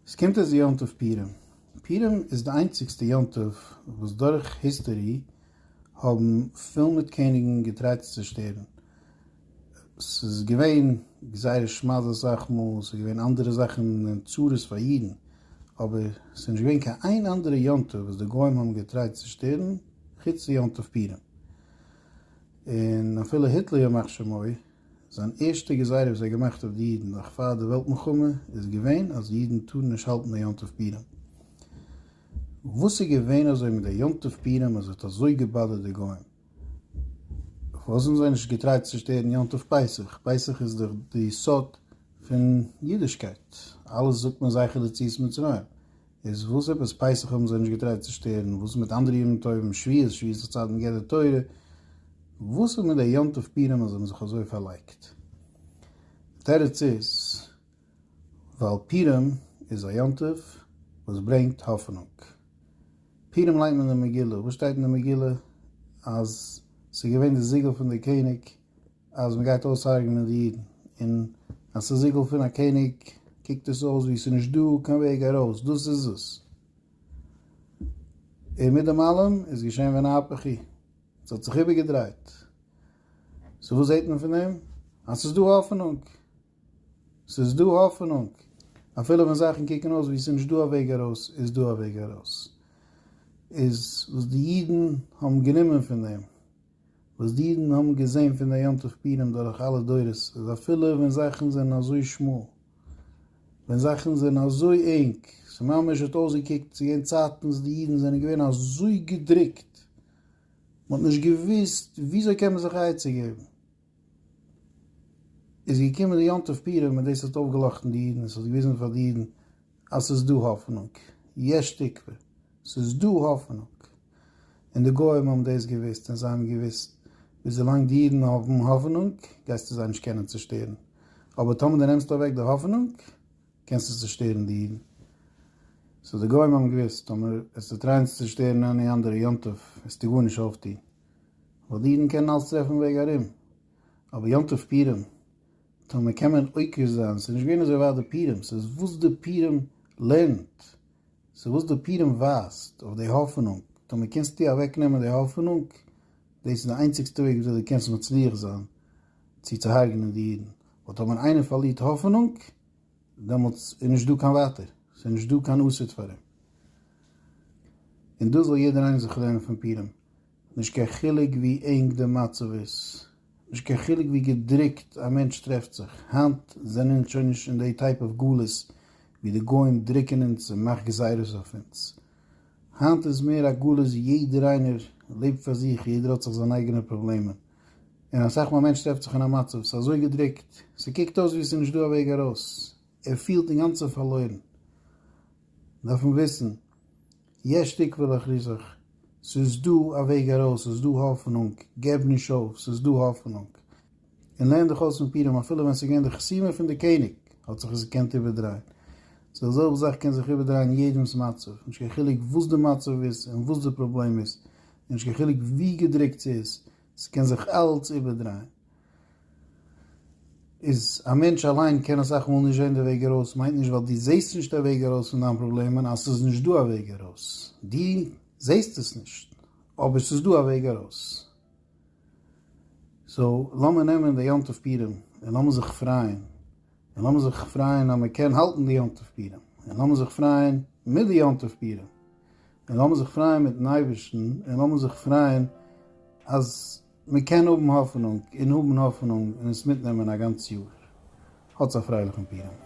עס קומט אויס יום טוב פורים. פורים איז די איינציגסטע יום טוב וואס דורך היסטערי האבן פול מיט קעניגן געטרייט צו צושטערן. ס'איז געווען גזירת שמד אסאך מאל, ס'איז געווען אנדערע זאכן און צרות פאר אידן, אבער ס'איז נישט געווען קיין איין אנדערע יום טוב וואס די גוים האבן געטרייט צו צושטערן חוץ יום טוב פורים. און אפילו היטלער ימח שמו, זיין ערשטע גזירה וואס ער האט געמאכט אויף די אידן נאך פאר די וועלט מלחמה איז געווען אז אידן טארן נישט האלטן די יום טוב פורים. וואס איז געווען אזוי מיט די יום טוב פורים אז עס האט אזוי געבאדערט די גוים? פארוואס האבן זיי נישט געטרייט צו שטערן יום טוב פסח? פסח איז דאך די יסוד פון אידישקייט, אלעס זאגט מען זכר לציאת מצרים, איז וואס עפעס? פסח האבן זיי נישט געטרייט צו שטערן, וואס איז מיט אנדערע ימים טובים, שביעית, שביעית איז צייט מגן די תורה, וואס איז מיט די יום טוב פורים אז זיי האבן זיך אזוי פארלייגט? די תירוץ איז, ווייל פורים איז א יום טוב וואס ברענגט האפענונג. פורים ליינט מען די מגילה, וואס שטייט אין די מגילה? אז ס'איז געווען די זיגל פון די קעניג, אז מ'גייט אויסהרג'נען די אידן, און אז ס'איז זיגל פון א קעניג קוקט עס אויס ווי ס'איז נישט דא קיין וועג ארויס, דאס איז עס. און מיט דעם אלעם איז געשען ווען א הפך היא, ס'האט זיך איבערגעדרייט. סאו וואס זעט מען פון דעם? אז ס'איז דא האפענונג. ס'איז דא האפענונג. אפילו ווען זאכן קוקן אויס ווי ס'איז נישט דא א וועג ארויס, איז דא א וועג ארויס. איז וואס די אידן האבן גענומען פון דעם? וואס די אידן האבן געזען פון די יום טוב פורים דורך אלע דורות אז אפילו ווען זאכן זענען אזוי שמאל, ווען זאכן זענען אזוי ענג, ס'ממש האט אויסגעקוקט צו ווערן צייטן וואס די אידן זענען געווען אזוי געדרוקט, מ'האט נישט געוואוסט וויאזוי קען מען זיך עצה געבן. איז געקומען די יום טוב פורים און דאס האט אויפגעלאכטן די אידן, עס האט געוויזן פאר די אידן אז עס איז דא האפענונג, יש תקווה, עס איז דא האפענונג, און די גוים האבן דאס געוואוסט און זיי האבן געוואוסט וויאזולאנג די אידן האבן האפענונג גייסטו זיי נישט קענען צושטערן, אבער טאמער דו נעמסט אוועק די האפענונג קענסטו צושטערן די אידן. סאו די גוים האבן געוואוסט טאמער וועסטו טרייען צו צושטערן עני אנדערע יום טוב וועסטו גארנישט אויפטון, ווייל די אידן קענען אלץ טרעפן וועג ארום, אבער יום טוב פורים טאר מען קען מען עוקר זיין, ס'איז נישט געווען אזוי ווייט די פורים, ס'איז וואס די פורים לערנט, ס'איז וואס די פורים ווייזט אויף די האפענונג, טאר מען קענסטו אוועק נעמען די האפענונג, דאס איז די איינציגסטע וועג וויאזוי די קענסט מצליח זיין צו צוהארגענען די אידן, ווייל טאר מען איינער פארלירט האפענונג, דעמאלטס איז נישט דא קיין ווייטער, ס'איז נישט דא קיין אסד פאר אים. און דאס זאל יעדער איינער זיך לערנען פון פורים, נישט קיין חילוק ווי ענג די מצב איז, נישט קיין חילוק ווי געדרוקט א מענטש טרעפט זיך, היינט זענען אונז שוין נישט אין די טייפ אוו גלות ווי די גוים דרוקן אונז און מאכט גזירות אויף אונז, היינט איז מער א גלות ווי יעדער איינער לעבט פאר זיך, יעדער האט זיך זיינע אייגענע פראבלעמען. און אסאך מאל א מענטש טרעפט זיך אין א מצב, ס'איז אזוי געדרוקט, ס'קוקט אויס ווי ס'איז נישט דא א וועג ארויס, ער פילט אינגאנצן פארלוירן, דארף מען וויסן, יש תקווה לאחריתך, ס'איז דא א וועג ארויס, ס'איז דא האפענונג, געב נישט אויף, ס'איז דא האפענונג, און לערן דיך אויס פון פורים, אפילו ווען ס'איז געווען די חסימה פון די קעניג, האט זיך עס געקענט איבערדרייען, די זעלבע זאך קען זיך איבערדרייען יעדעמ'ס מצב, נישט קיין חילוק וואס די מצב איז און וואס די פראבלעם איז, נישט קיין חילוק ווי געדרוקט ס'איז, ס'קען זיך אלץ איבערדרייען. איז א מענטש אליין קען אסאך מאל נישט זען די וועג ארויס, מיינט נישט ווייל דו זעסט נישט א וועג ארויס פון דיין פראבלעמען אז ס'איז נישט דא א וועג ארויס. דו זעסט עס נישט, אבער ס'איז דא א וועג ארויס. סאו, לאמיר נעמען די יום טוב פורים, און לאמיר זיך פרייען. און לאמיר זיך פרייען אז מ'קען האלטן די יום טוב פורים. און לאמיר זיך פרייען מיט די יום טוב פורים. און לאמיר זיך פרייען מיטן אייבערשטן, און לאמיר זיך פרייען אז מען קען האבן האפענונג, און האבן האפענונג, און עס מיטנעמען א גאנץ יאר. האטס א פרייליכן פורים.